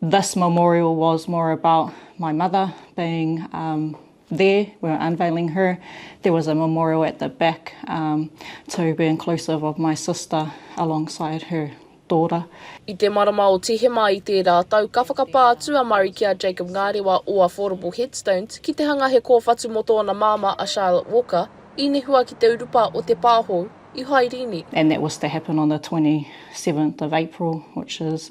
This memorial was more about my mother being there, we were unveiling her, there was a memorial at the back to be inclusive of my sister alongside her daughter. I te marama o Tihema i tērā tau ka whakapā atu a Murray ki a Jacob Ngarewa o Affordable Headstones ki te hanga he kōwhatu mō tōna māmā a Charlotte Walker i nehua ki te urupa o te pāhou i Hairīni. And that was to happen on the 27th of April which is.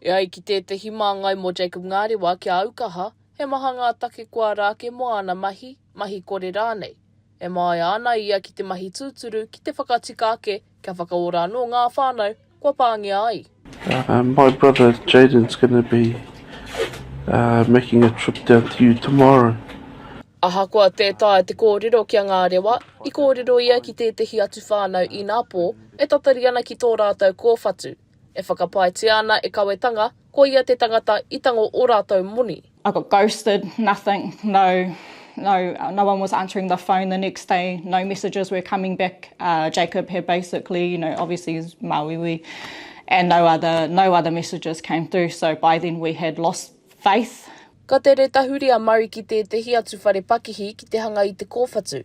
E ai ki tētehi māngai mō Jacob Ngarewa kia au kaha, he maha ngā take kua rā ake mō āna mahi, mahi kore rānei. E māia ana ia ki te mahi tūturu ki te whakatika ake kia whakaora anō ngā whānau kua pāngia ai. My brother Jayden's gonna be making a trip down to you tomorrow. Ahakoa tē taea te kōrero ki a Ngarewa, i kōrero ia ki tētehi atu whānau inā pō, e tatari ana ki tō rātou kōwhatu, E whakapaetia ana e Kawetanga, ko ia te tangata i tango o ratou moni. I got ghosted, nothing, no no no one was answering the phone the next day, no messages were coming back, Jacob had basically, you know, obviously he's Māuiui, and no other no other messages came through, so by then we had lost faith. Ka tere tahuri a Murray ki tētehi atu whare pakihi ki te hanga i te kōwhatu.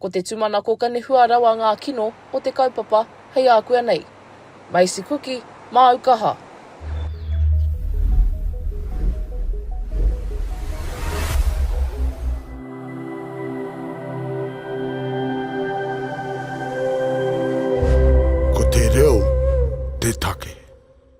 Ko te tumanako ka nehua rawa ngā kino o te kaupapa hei ākua nei. Maisi kuki, māu kaha. Ko te reo te take.